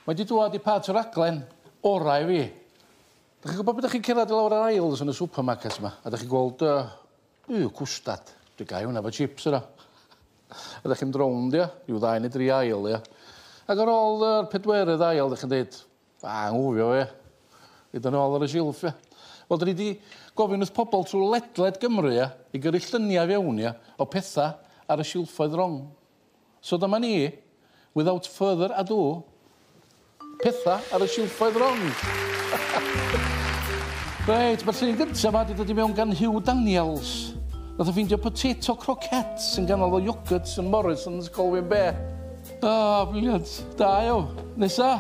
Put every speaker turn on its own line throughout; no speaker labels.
Mae 'di dwad i part y raglen orau i fi. Dych chi'n gwybod pan dych chi'n cerdded i lawr yr aisles yn y supermarket 'ma a dych chi'n gweld yy yy cwstad, dwi'n gau hwnna efo chips yna. A dych chi'n mynd rownd ia, ryw ddau neu dri aisle ia. Ac ar ôl yr pedwerydd aisle dych chi'n deud, a anghofio fe. Rhoid o nôl ar y silff ia. Wel 'dyn ni 'di gofyn wrth pobl trwy ledled Gymru ia i gyrru lluniau i fewn ia o petha ar y silffoedd rong. So dyma ni, without further ado, petha ar y silffoedd rong. Reit, mae'r llun gyntaf ma wedi dod i mewn gan Hugh Daniels. Nath o ffeindio potato croquettes yn ganol o yogurt yn Morrison's Colwyn Be. O, oh, briliant. Da yw. Nesa.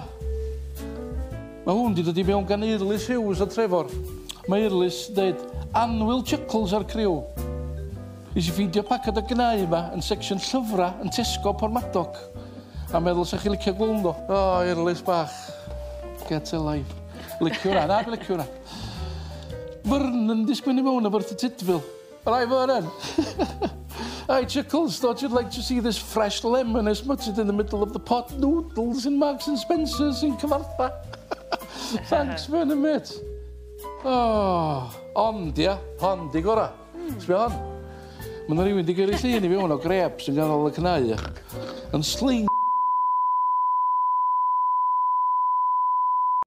Mae hwn wedi dod i mewn gan Eirlys Hughes o Trevor. Mae Eirlys dweud, anwyl chuckles ar criw. Nes i ffeindio paced o gnau yma yn section llyfra yn Tesco Portmadog a meddwl sa chi licio gweld nhw. O, erlys bach. Get a life. Licio hwnna, na dwi'n licio hwnna. Fyrn yn disgwyl i mewn o fyrth y Tydfil. Rai Vernon! Hi Chuckles, thought you'd like to see this fresh lemon I smutted in the middle of the pot noodles in Marks and Spencer's in Cyfartha. Thanks Vernon mate. Oh, ond ia, hon di gora. Hmm. Sbia hon. Ma' 'na rywun 'di gyrru llun i fi 'wn o grêp sy'n ganol y cnau. Yn sling